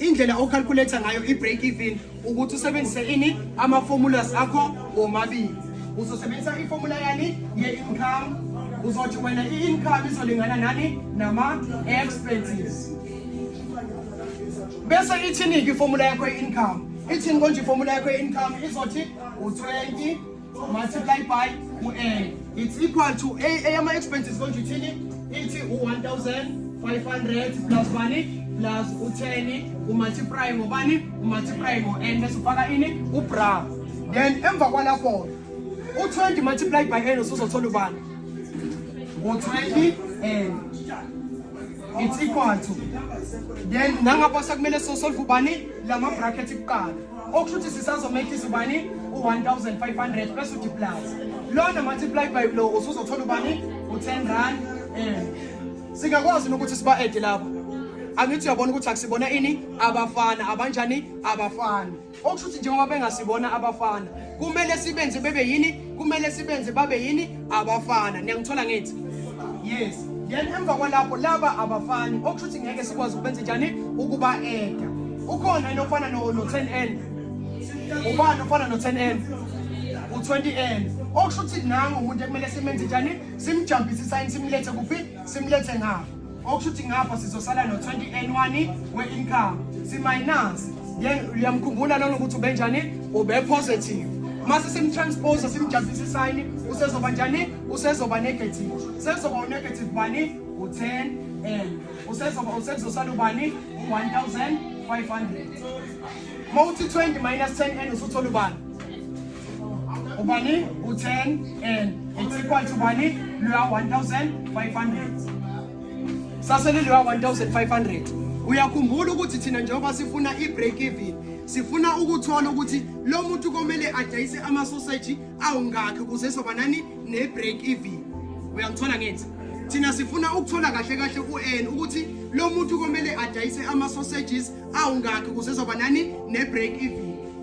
indlela ocalculator ngayo i-break even ukuthi usebenzise ini ama-formulas akho womabili uzosebenzisa ifomula yani ye-income uzothi wena i-income izolingana nani nama-expenses bese ithini-ke ifomula yakho ye-income ithini konje ifomula yakho ye-income izothi u-20 multiply by u-n it's equal to eyama-expenses konje ithini ithi u-1500 plus bani plus u-10 umultiply ngobani umultiply ngo-n bese ufaka ini ubra then emva kwalapho u-20 multiply by n usuzothola ubani ngo-20 n it's equal to then nangapha sekumele sosolve ubani lama-bracket kuqala okusho ukuthi sisazomehlisa ubani u-1500 bese uthi plus lona multiply by lo usuzothola ubani u-10 rand um singakwazi nokuthi siba-ede lapho angithi uyabona ukuthi akusibona ini abafana abanjani abafana okusho ukuthi njengoba bengasibona abafana kumele sibenze bebe yini kumele sibenze babe yini abafana niyangithola ngithi yes then emva kwalapho laba abafani okusho ukuthi ngeke sikwazi ukubenza njani ukuba eda ukhona yini ofana no-10 n ubani ofana no-10 n u-20 n okusho ukuthi nangu umuntu ekumele simenze njani simjambise isayini simlethe kuphi simlethe ngapho okusho ukuthi ngapha sizosala no-20 we-income siminance then uyamkhumbula lona ukuthi ubenjani ubepositive mase simtranspose simjazisa isayini usezoba njani usezoba negative sezoba unegative bani u-10 and usezoba usezosala ubani u-1500 ma uthi 20 minus 10 and usuthola ubani ubani u-10 and it's equal to bani luya 1500 sasele luya 1500 uyakhumbula ukuthi thina njengoba sifuna i-break even sifuna ukuthola ukuthi lo muntu komele adayise amasoseji awungakhi ukuze soba nani ne-break even uyangithola ngithi thina sifuna ukuthola kahle kahle ku-n ukuthi lo muntu komele adayise ama-sausages awungakhi kuze zoba nani ne-break even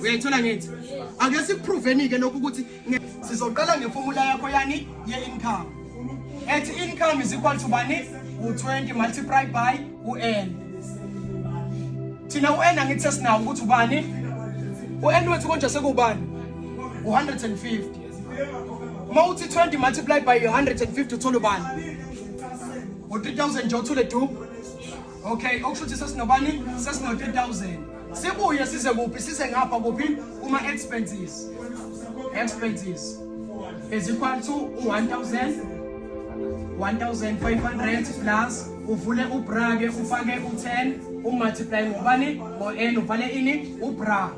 uyayithola ngithi ake sikupruveni-ke lokhu ukuthi sizoqala ngefomula yakho yani ye-income ethi income is equal to bani u-20 multiply by u-n thina u-n angithi sesinawo ukuthi ubani u-n wethu konje sekubani u-150 uma uthi 20 multiply by 150 uthole ubani u-3000 nje uthule du okay okusho ukuthi sesinobani sesino 3000 sibuye size kuphi size ngapha kuphi kuma expenses expenses is equal to 1000 1500 plus uvule ubra ke ufake u10 umultiply ngobani ngo n uvale ini ubra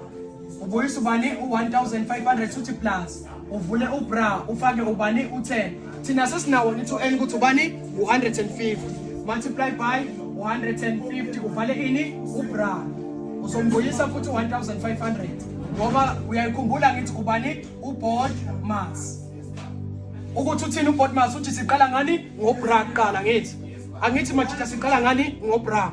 ubuyisa ubani u1500 uthi plus uvule ubra ufake ubani u-10 thina sesinawo ni 2 n ukuthi ubani u-150 multiply by 150 uvale ini ubra uzombuyisa futhi 1500 ngoba uyayikhumbula ngithi ubani ubod mas ukuthi uthini ubod mas uthi siqala ngani ngobra kuqala ngithi angithi majita siqala ngani ngobra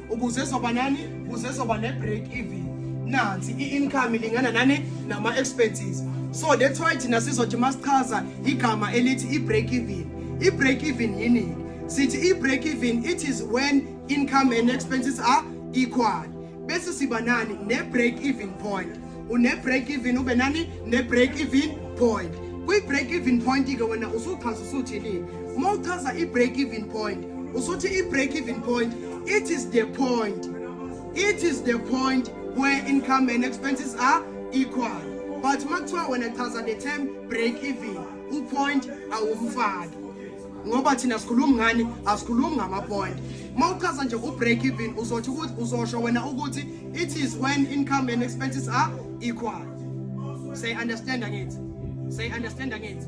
ukuze soba nani ukuze soba ne break even nansi i income ilingana nani nama expenses so that's why thina sizothi masichaza igama elithi i break even i break even yini sithi i break even it is when income and expenses are equal bese siba nani ne break even point une-break even ube nani ne-break even point kwi-break even point-ke wena usuchaza usuthini uma uchaza i-break even point usuthi i-break even point it is the point it is the point where income and expenses are equal but uma kuthiwa wena chaza the term break even upoint awumfaki ngoba thina sikhulumi ngani asikhulumi ngamapoint uma uchaza nje u-break even uzothi ukuthi uzosho wena ukuthi it is when income and expenses are equal say understand angithi say understand angithi